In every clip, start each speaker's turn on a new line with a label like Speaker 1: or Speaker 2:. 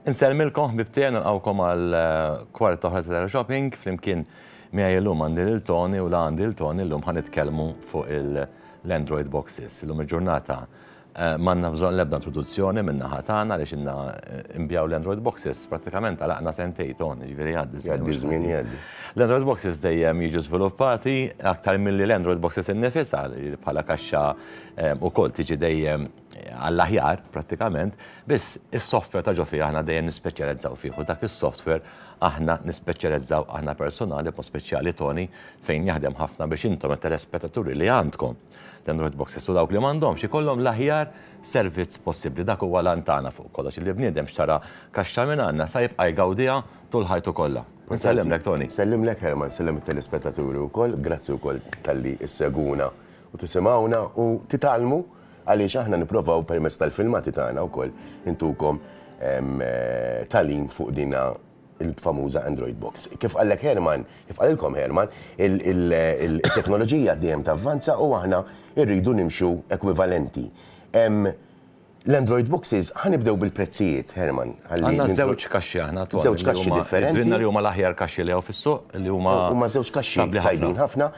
Speaker 1: Insellmilkom ħbib tiegħi nilqgħukom għal eh, kwart oħra ta' shopping flimkien miegħi llum għandi lil Tony u la għandi lil Tony llum ħanitkellmu fuq l-Android boxes. Illum il-ġurnata M'għandna bżonn l-ebda introduzzjoni min-naħa tagħna għaliex ilna nbigħu l-Android Boxes, prattikament għalaqna sentejn, Ton, jiġifieri jgħaddi ż-żmien. Jgħaddi ż-żmien, jgħaddi.
Speaker 2: L-Android Boxes
Speaker 1: dejjem jiġu żviluppati aktar milli l-Android Boxes innifisha li bħala kaxxa wkoll tiġi dejjem għall-aħjar prattikament, biss is-software ta' ġo fiha aħna dejjem nispeċjalizzaw fih u dak is-software aħna nispeċjalizzaw aħna persunali b'mod speċjali Tony fejn jaħdem ħafna biex intom it-telespettaturi li għandkom L-Android Boxes u dawk li m'għandhomx ikollhom l-aħjar servizz possibbli. Dak huwa l-għan tagħna fuq kollox, li bniedem xtara kaxxa minn għandna sa jibqa' jgawdiha tul ħajtu kollha. Insellimlek, Tony. Nsellimlek, Herman, nsellem
Speaker 2: it-telespettaturi wkoll. Grazzi wkoll talli ssegwuna u tisimgħuna u titgħallmu għaliex aħna nipprovaw permezz tal-filmati tagħna wkoll intukom tagħlim fuq din il-famuża Android Box. Kif qallek Herman, kif qalilkom Herman, il-teknoloġija dejjem tavvanza u aħna rridu nimxu ekwivalenti. L-Android Boxes ħanibdew bil-prezzijiet, Herman. Għandna żewġ
Speaker 1: kaxxi aħna attwalment. Żewġ kaxxi differenti. Għandna
Speaker 2: li huma l-aħjar kaxxi
Speaker 1: li hawn fis-suq li huma. Huma żewġ kaxxi tajbin
Speaker 2: ħafna.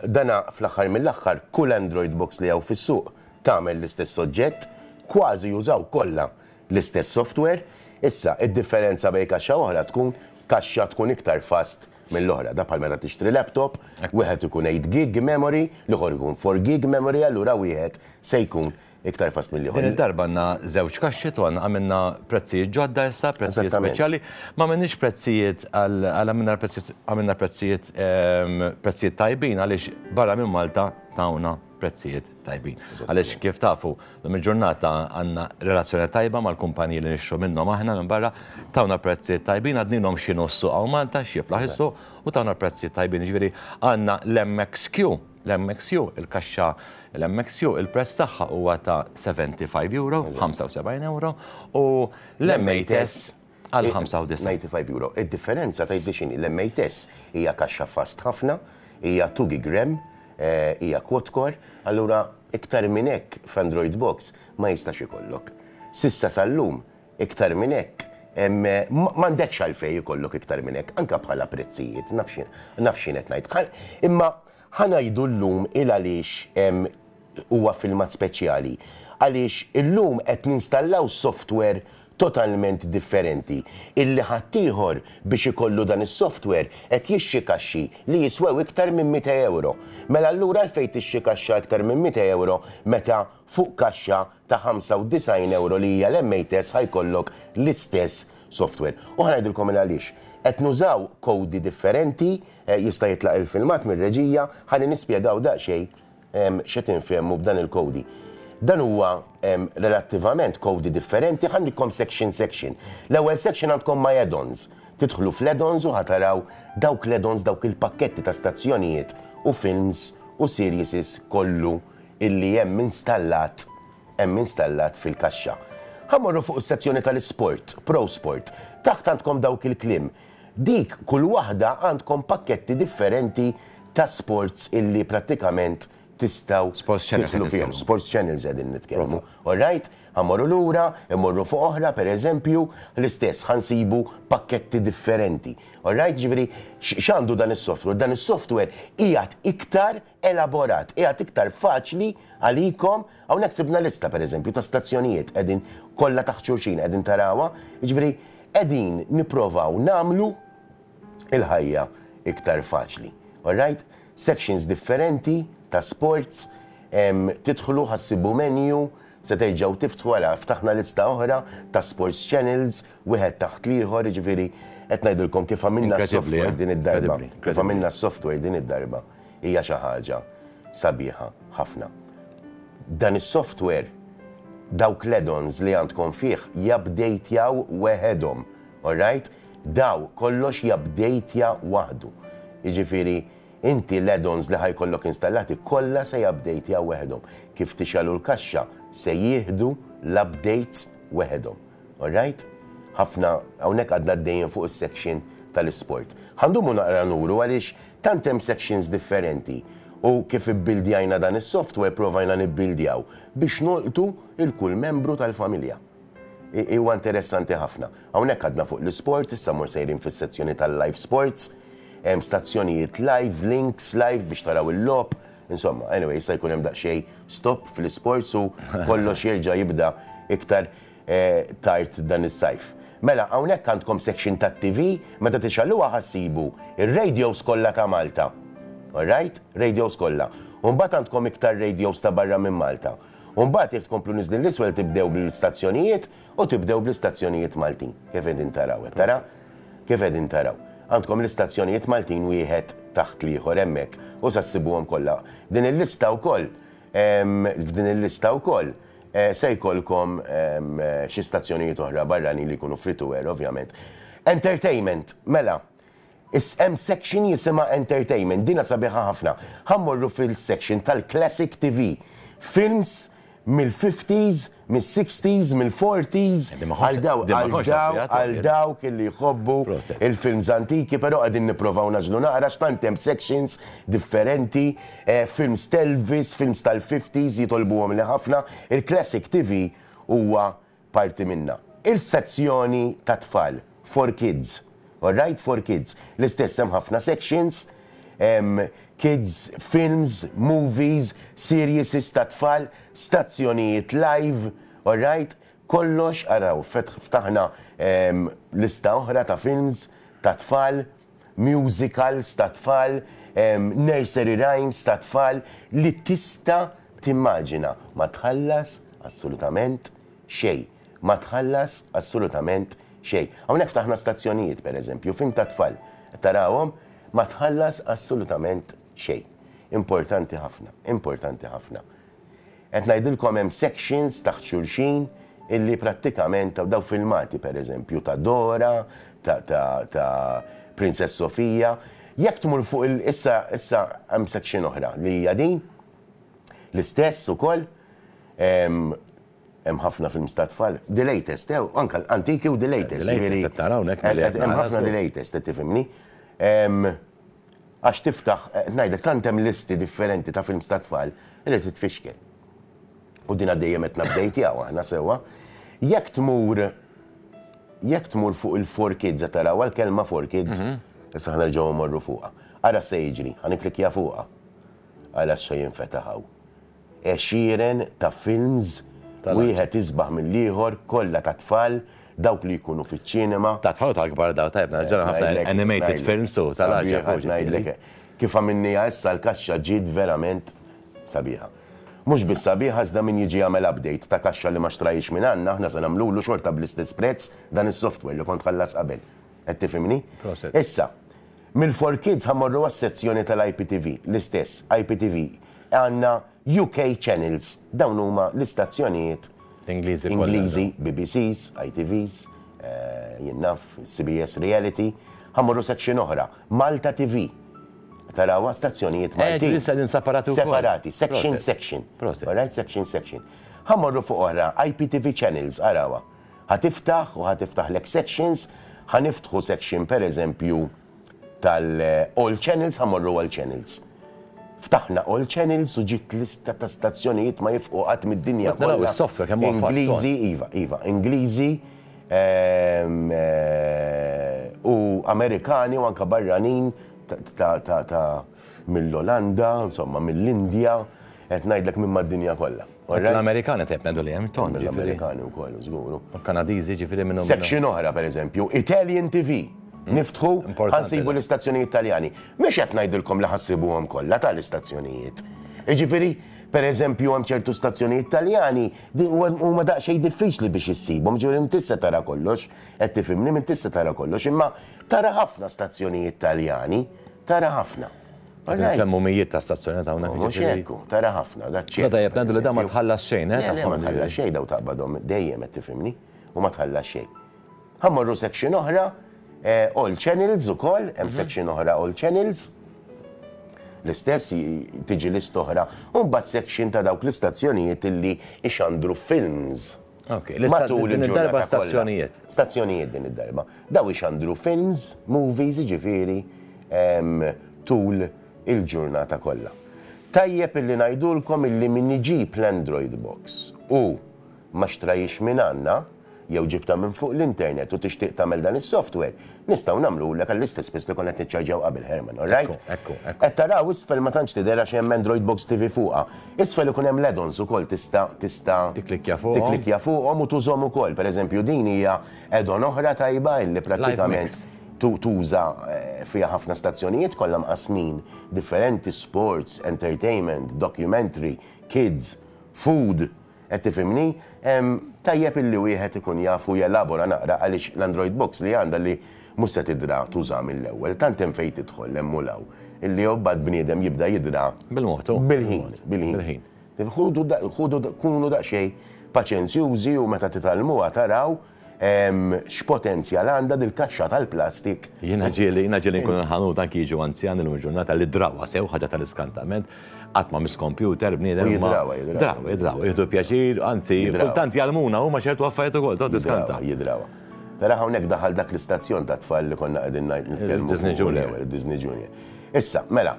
Speaker 2: Dana fl-aħħar mill-aħħar kull Android Box li hawn fis-suq tagħmel l-istess oġġett, kważi jużaw kollha l-istess software. Issa, id-differenza bejn kaxxa u oħra tkun kaxxa tkun iktar fast mill-oħra. Dak bħal meta tixtri laptop, wieħed ikun eight gig memory, l-ieħor ikun four gig memory allura wieħed se jkun iktar fast mill-ieħor. Din id-darba għandna
Speaker 1: żewġ kaxxi u għandna għamilna prezzijiet ġodda issa, prezzijiet speċjali. Ma għamilniex prezzijiet għal għamilna l-prezzijiet għamilna prezzijiet prezzijiet tajbin għaliex barra minn Malta tawna. prezzijiet tajbin. Għaliex kif tafu, lum il-ġurnata għandna relazzjoni tajba mal-kumpaniji li nixtru minnhom aħna minn barra, tawna prezzijiet tajbin għadninhom xi nussu għaw Malta x'jiflaħ is-suq u tawna prezzijiet tajbin. Jiġifieri għandna l-MXQ, l-MXQ, il-kaxxa l-MXQ, il-prezz tagħha huwa ta' 75 euro, 75 euro, u l-M8S għal 95 euro. Id-differenza
Speaker 2: tgħidli x'inhi? L-MATS hija kaxxa fast ħafna, hija 2 gig ram, hija quad core, allura iktar minn hekk f'Android Box ma jistax ikollok. S'issa sal-lum iktar minn hekk m'għandekx għalfejn ikollok iktar minn hekk, anke bħala prezzijiet, naf x'jien qed ngħid. Imma ħa ngħidu llum il-għaliex Huwa filmat speċjali għaliex illum qed ninstallaw software totalment differenti illi ħaddieħor biex ikollu dan is-software qed jixtri kaxxi li jiswew iktar minn mitt ewro. Mela allura għalfejn tixtri kaxxa iktar minn mitt ewro meta fuq kaxxa ta' 95 ewro li hija l-MATES ħa jkollok l-istess software. U ħa ngħidilkom il-għaliex. Qed nużaw kowdi differenti, jista' jitlaq il-filmat mir-reġija, ħalli nispjegaw daqsxejn x'qed infehmu b'dan il-kowdi. Dan huwa relattivament kowdi differenti, ħa ngħidkom section section. L-ewwel section għandkom my add-ons. Tidħlu fl-add-ons u ħa taraw dawk l-add-ons dawk il-pakketti ta' stazzjonijiet u films u serieses kollu illi hemm installat hemm installat fil-kaxxa. Ħa mmorru fuq is-sezzjoni tal-isport, Pro Sport. Taħt għandkom dawk il-kliem. Dik kull waħda għandkom pakketti differenti ta' sports illi prattikament tistgħu tidħlu fihom. Sports channels qegħdin nitkellmu. Alright? Ħa mmorru lura, immorru fuq oħra, per eżempju, l-istess, ħa nsibu pakketti differenti. Alright? Jiġifieri x'għandu dan is-software? Dan is-software qiegħed iktar elaborat, qiegħed iktar faċli għalikom, hawnhekk sibna lista pereżempju ta' stazzjonijiet qegħdin kollha taħt xulxin qegħdin tarawha, jiġifieri qegħdin nipprovaw nagħmlu l-ħajja iktar faċli. All right? Sections differenti ta' sports, tidħlu ħa ssibu menu, se terġgħu tiftħu ara ftaħna lista oħra ta' sports channels, wieħed taħt l-ieħor, jiġifieri qed ngħidilkom kif għamilna s-software din id-darba, kif għamilna s-software din id-darba. hija xi ħaġa sabiħa ħafna. Dan is-software, dawk l-add-ons li għandkom fih jupdatejw weħedhom, alright? Daw, kollox jupdatja waħdu. Jiġifieri, inti l-add-ons li ħa jkollok installati kollha se jupdatjaw weħedhom. Kif tixgħelu l-kaxxa, se jieħdu l-updates weħedhom. Alright? Ħafna, hawnhekk għadna għaddejjin fuq is-section tal-isport. Ħa ndumu naqra nuru għaliex Tant hemm sections differenti u kif ibbildjajna dan is-software provajna nibbildjaw biex nolqtu 'l kull membru tal-familja. Huwa interessanti ħafna. Hawnhekk għadna fuq l-isport, issa mmur sejrin fis-sezzjoni tal-live sports. Hemm stazzjonijiet live, links live biex taraw il-logħob. Insomma, anyway, issa jkun hemm daqsxejn stop fl-isports u kollox jerġa' jibda iktar. tard dan is-sajf. Mela, hawnhekk għandkom section tat-TV, meta tixgħeluha ħa ssibu r-radios kollha ta' Malta. All right? Radios kollha. U mbagħad għandkom iktar radios ta' barra minn Malta. U mbagħad jekk tkomplu niżlin l-isfel tibdew bl-istazzjonijiet u tibdew bl-istazzjonijiet Maltin. Kif qegħdin taraw, qed tara? Kif qegħdin taraw. Għandkom l-istazzjonijiet Maltin wieħed taħt l-ieħor hemmhekk u sa ssibuhom kollha. Din il-lista wkoll F'din il-lista wkoll se jkollkom xi stazzjonijiet oħra barranin li jkunu free to air ovvjament. Entertainment, mela, hemm section jisimha Entertainment, dinha sabiħa ħafna. Ħa mmorru fil-section tal-Classic TV, films mill-fifties mis-sixties, mill-forties, għal dawk għal dawk li jħobbu l-films antiki, però qegħdin nipprovaw nagħżlu naqra għax tant hemm sections differenti, films t'Elvis, films tal-fifties jitolbuhomli ħafna, il-classic TV huwa parti minnha. Il-sezzjoni tat-tfal. for kids, alright, for kids. L-istess hemm ħafna sections, hemm kids films, movies, serieses tat-tfal, stazzjonijiet live, alright, kollox, araw, ftaħna lista oħra ta' films tat-tfal, musicals tat-tfal, nursery rhymes tat-tfal li tista' timmaġina. Ma tħallas assolutament xejn. Ma tħallas assolutament xejn. Hawnhekk ftaħna stazzjonijiet pereżempju, film tat-tfal. Qed tarahom? Ma tħallas assolutament xejn. Importanti ħafna, importanti ħafna. Qed ngħidilkom hemm sections taħt xulxin illi prattikament daw filmati pereżempju ta' Dora, ta' ta' ta' Princess Sofia. Jekk tmur fuq il issa issa hemm section oħra li hija din l-istess ukoll. Hemm ħafna films ta' tfal, the latest, eh, anka antiki u the latest. The latest, jiġifieri qed nara hawnhekk qed- milli qed qed- Hemm nara, ħafna żgur. the latest, qed tifhimni. Ehm, Għax tiftaħ, qed ngħidlek, tant hemm listi differenti ta' films ta' tfal li titfixkel. U din għaddejja qed nabdejtjaw aħna sewwa. Jekk tmur jekk tmur fuq il-4 kids qed tarawha l-kelma 4 kids, issa ħa nerġgħu mmorru fuqha. Ara x'se jiġri, ħa nikklikkja fuqha. Ara x'se jinfetaħ hawn. Għexieren ta' films, wieħed isbaħ mill-ieħor, kollha ta' tfal, dawk li jkunu fiċ-ċinema. Ta' tfal u ta' kbar dawn, tajjeb, ġara ħafna animated films u tal-għaġeb. Sabiħa, ngħidlek, kif għamilniha issa l-kaxxa ġiet verament sabiħa. Mhux biss sabiħa iżda min jiġi jagħmel update ta' kaxxa li ma xtrahiex minn għandna aħna se nagħmlulu xorta bl-istess prezz dan is-software li kont tħallas qabel. Qed tifhimni? Issa, mill-4Kids ħa mmorru għas-sezzjoni tal-IPTV, l-istess, IPTV, Għandna UK channels, dawn huma l-istazzjonijiet Ingliżi kollha. Ingliżi, BBCs, ITVs, jien naf, CBS Reality, ħa mmorru section oħra, Malta TV, tarawha, stazzjonijiet Maltin. Qegħdin issa qegħdin separati wkoll. Separati, section section. Proset. Alright, section section. Ħa mmorru fuq oħra, IPTV channels, arawha. Ħa tiftaħ u ħa tiftaħlek sections, ħa niftħu section pereżempju, tal-All Channels ħamorru All Channels. Ftaħna All Channels u ġiet lista ta' stazzjonijiet ma jifqu qatt mid-dinja kollha. Ingliżi, iva, iva, Ingliżi ehm, eh, u Amerikani u anka barranin ta' mill-Olanda, insomma mill-Indja, qed ngħidlek minn mad-dinja kollha. L-Amerikani tajjeb
Speaker 1: ngħidu lejhom, ton ġifieri. L-Amerikani wkoll,
Speaker 2: żguru. Kanadiżi ġifieri minn.
Speaker 1: Section oħra pereżempju,
Speaker 2: Italian TV. Hmm. Niftħu ħansibu l-istazzjonijiet Taljani. Mhux qed ngħidilkom li ħassibuhom kollha ta' l-istazzjonijiet. Ġifieri, pereżempju hemm ċertu stazzjonijiet Taljani huma daqsxejn diffiċli biex issibhom, ġifieri minn tista' tara kollox, qed tifhimni minn tista' tara kollox, imma tara ħafna stazzjonijiet Taljani Tara ħafna. Qed nsemmu
Speaker 1: mijiet ta' stazzjonat hawnhekk. Mhux hekk, tara
Speaker 2: ħafna, da ċ-ċirku. Tajjeb, ngħidu li da ma tħallas
Speaker 1: xejn, eh? Le, ma tħallas xejn, daw
Speaker 2: taqbadhom dejjem qed tifhimni, u ma tħallas xejn. Ħa mmorru section oħra, all channels ukoll, hemm section oħra all channels. L-istess tiġi list oħra, u mbagħad section ta' dawk l-istazzjonijiet illi ixandru films. Matul il-ġurnata kollha. Stazzjonijiet din id-darba. Daw ixandru films, movies jiġifieri tul il-ġurnata kollha. Tajjeb illi ngħidulkom illi min iġib l-Android Box u ma xtrahiex minn għandna, jew ġibtha minn fuq l-internet u tixtieq tagħmel dan is-software, Nistgħu nagħmlulek għall-istess piż li konna qed niċċarġjaw qabel, Herman, all right? Ekku, ekku, ekku. Qed taraw isfel ma tantx tidher għax hemm Android Box TV fuqha. Isfel ikun hemm l-add-ons ukoll tista' tista' Tikklikkja fuqhom. tikklikkja fuqhom u tużhom ukoll. Pereżempju din hija add-on oħra tajba illi prattikament Live tu- tuża eh, fiha ħafna stazzjonijiet kollha mqassmin differenti, sports, entertainment, documentary, kids, food. Qed tifhimni? Tajjeb illi wieħed ikun jaf u jelabora naqra għaliex l-Android Box li għandha li mhux se tidra tuża mill-ewwel, tant hemm fejn tidħol hemm u 'l hawn, illi imbagħad bniedem jibda jidra bil-ħin, bil-ħin. Ħudu, kunu daqsxejn paċenzjużi u meta titgħallmuha taraw. X'potenzjal għandha dil-kaxxa tal-plastik? Jiena ġieli, jiena
Speaker 1: ġieli nkun il-ħanut anki jiġu anzjani llum il-ġurnata li drawha sew, ħaġa tal-iskantament, qatt ma miss kompjuter bniedem. U jidrawha, jidrawha. Drawha,
Speaker 2: jidrawha, jieħdu
Speaker 1: pjaċir, anzi, kultant jgħallmuna huma ċertu affarijiet ukoll, tgħod tiskanta. Jidrawha, jidrawha.
Speaker 2: Tara hawnhekk daħal dak l-istazzjon tat-tfal li konna qegħdin ngħid nitkellmu. Disney Junior. Disney
Speaker 1: Junior.
Speaker 2: Issa, mela,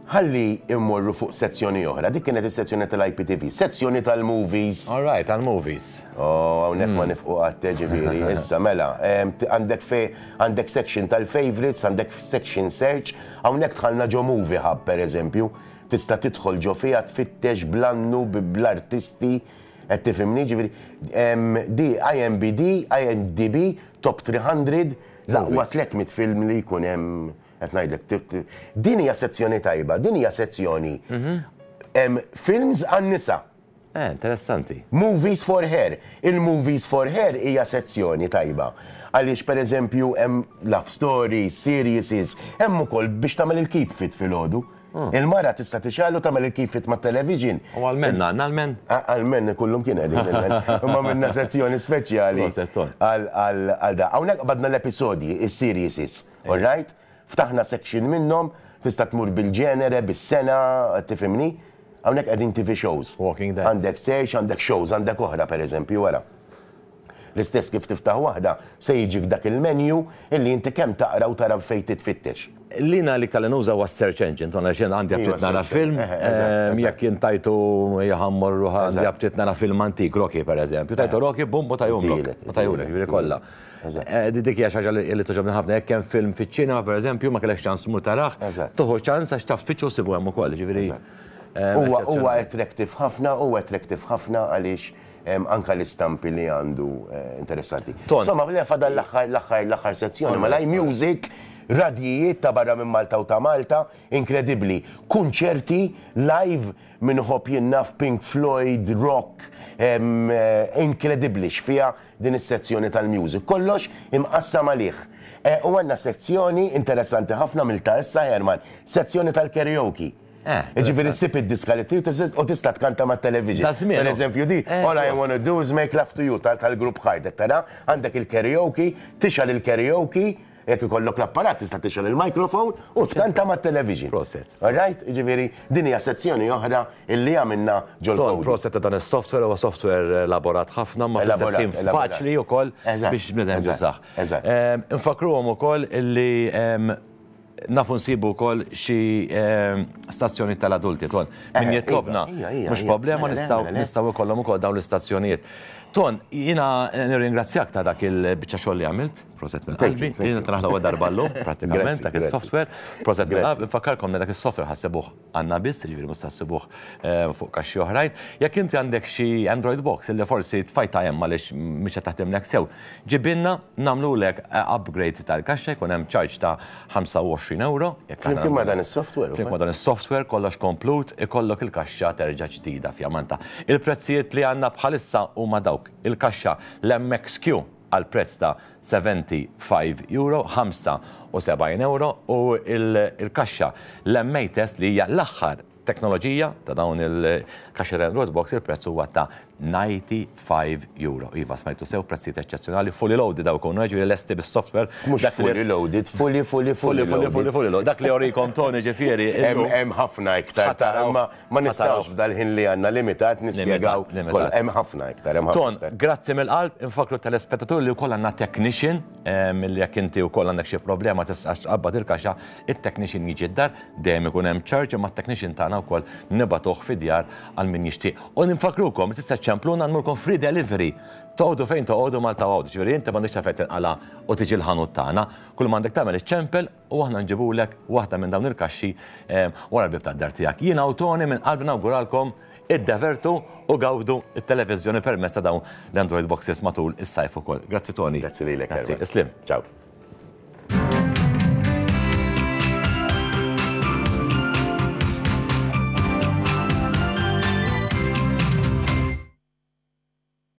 Speaker 2: Ħalli mmorru fuq sezzjoni oħra, dik kienet is-sezzjoni tal-IPTV, sezzjoni tal-movies. All right, tal-movies.
Speaker 1: Oh, hawnhekk ma
Speaker 2: nifqu qatt, eh, ġifieri, issa mela, em, t- għandek fe, għandek section tal-favorites, għandek section search, hawnhekk tħallna ġo movie hub pereżempju, tista' tidħol ġo fiha tfittex bl-annu, b- bl-artisti, qed tifhimni, ġifieri, em, di IMBD, IMDB, top 300, l-aqwa 300 film li jkun hemm Qed ngħidlek, ti- ti- din hija sezzjoni tajba, din hija sezzjoni em, films għan-nisa, Eh, interessanti.
Speaker 1: movies for
Speaker 2: her. Il-movies for her hija sezzjoni tajba. Għaliex pereżempju hemm love stories, series, hemm ukoll biex tagħmel il-keep fit filgħodu. Il-mara tista' tixgħalu tagħmel il-keep fit mat-television. Ah. U għal-men, għanna
Speaker 1: għal-men. Għal-men kullum
Speaker 2: kien għedin il-men. Imma minna sezzjoni speċjali Proset, Ton. għal- għal għal da. Hawnhekk badna l-episodji, is-series. All right? Ftaħna section minnhom, tista' tmur bil-ġenere, bis-sena, qed tifhimni? Hawnhekk qegħdin TV shows. Walking Dead. Għandek
Speaker 1: search, għandek shows,
Speaker 2: għandek oħra pereżempju, ara. L-istess kif tiftaħ waħda, se jiġik dak il-menu illi inti kemm taqra u tara fejn titfittex. Li jiena l-iktar li
Speaker 1: nuża huwa s-search engine, tgħid għaliex jiena għandi aptit nara film, jekk jien tajtu ħa mmur għandi aptit nara film antik, Rocky pereżempju, tajtu Rocky, bum, u tajhom lok. U tajhom lok, jiġifieri kollha. Dik hija xi ħaġa li toġobni ħafna, jekk hemm film fiċ-ċinema pereżempju ma kellekx ċans tmur tarah, tuħu ċans għax taf tfittxu ssibu hemm ukoll, ġifieri. Huwa
Speaker 2: attractive ħafna, huwa attractive ħafna għaliex anke l-istampi li għandu interessanti. Insomma, fadal l-aħħar sezzjoni, ma live music, radjijiet ta' barra minn Malta u ta' Malta, inkredibbli. Kunċerti live min iħobb jien naf Pink Floyd, rock, inkredibbli x'fiha din is-sezzjoni tal-Music Kollox imqassam għalih. Eh, u għandna sezzjoni interessanti ħafna għamiltha issa Herman, sezzjoni tal-karaoke. Eh, Ġifieri ssib id-diska li trid u tista' tkanta mat-television. Ta' żmien. Pereżempju di, Eh, All I ġust. wanna do is make love to you tal- tal-grupp Hardek, tara? Għandek il-karaoke, tixgħal il-karaoke, Jekk ikollok l-apparat tista' tixgħel il-microphone u tkanta mat-television. Proset. All right?
Speaker 1: Jiġifieri
Speaker 2: din hija sezzjoni oħra illi għamilna ġol-Kodi. Ton, proset ta' dan is-software,
Speaker 1: huwa software elaborat ħafna imma fl-istess ħin faċli wkoll biex bniedem jużah. Eżatt. Infakkruhom ukoll illi nafu nsibu wkoll xi stazzjonijiet tal-adulti, Ton. Min jitlobna, mhux problema nistgħu nistgħu jkollhom ukoll dawn l-istazzjonijiet. Ton, jiena nirringrazzjak ta' dak il-biċċa xogħol li għamilt. Proset minn qalbi. Din qed naraħ l-ewwel darba llum, prattikament, dak is-software. Proset minn qalbi. Infakkarkom li dak is-software ħa ssibuh għandna biss, jiġifieri mhux se ssibuh fuq kaxxi oħrajn. Jekk inti għandek xi Android Box li forsi tfajtha hemm għaliex mhix qed taħdimlek sew, ġibilna nagħmlulek upgrade tal-kaxxa, jkun hemm charge ta' €25. Flimkien ma' dan
Speaker 2: is-software? Flimkien ma' dan is-software,
Speaker 1: kollox komplut, ikollok il-kaxxa terġa' ġdida fjamantha. Il-prezzijiet li għandna bħalissa huma dawk. Il-kaxxa l-MXQ għal prezz ta' €75, 75 ewro, u l-kaxxa l-MA Test li hija l-aħħar teknoloġija ta' dawn il-kaxxi railroad box il-prezz huwa ta' €95. Iva, smajtu sew, prezzijiet eċċezzjonali, fully loaded hawn ikunu, jiġifieri lesti bis-software. Mhux fully
Speaker 2: loaded, fully, fully, fully loaded. Fully, fully, fully
Speaker 1: loaded. Dak li jorikom Tony ġifieri illum. Hemm ħafna
Speaker 2: iktar, imma Ma nistgħux f'dal-ħin li għandna limitat nispjegaw kollha. Hemm ħafna iktar, hemm ħafna iktar. Ton, grazzi mill-qalb,
Speaker 1: infakkru t-telespettaturi li wkoll għandna technician, milli jekk inti wkoll għandek xi problema tistax tqabbad il-kaxxa, it-technician jiġi d-dar, dejjem ikun hemm charge, imma t-technician tagħna wkoll nibagħtuh fid-djar għal min jixtieq. U ninfakkrukom, tista' ċċempluna nmurkom free delivery. Toqogħdu fejn toqogħdu Malta Għawdex, jiġifieri inti m'għandekx għalfejn tinqala' u tiġi l-ħanut tagħna. Kull m'għandek tagħmel iċċempel, u aħna nġibulek waħda minn dawn il-kaxxi wara l-bieb tad-dar tiegħek. Jiena u Tony minn qalbi nawguralkom iddevertu u gawdu t-televiżjoni permezz ta' dawn l-Android
Speaker 2: Boxes
Speaker 1: matul is-sajf ukoll. Grazzi Tony. Grazzi
Speaker 2: lilek Erwin.
Speaker 1: Grazzi. Isliem. Ciao.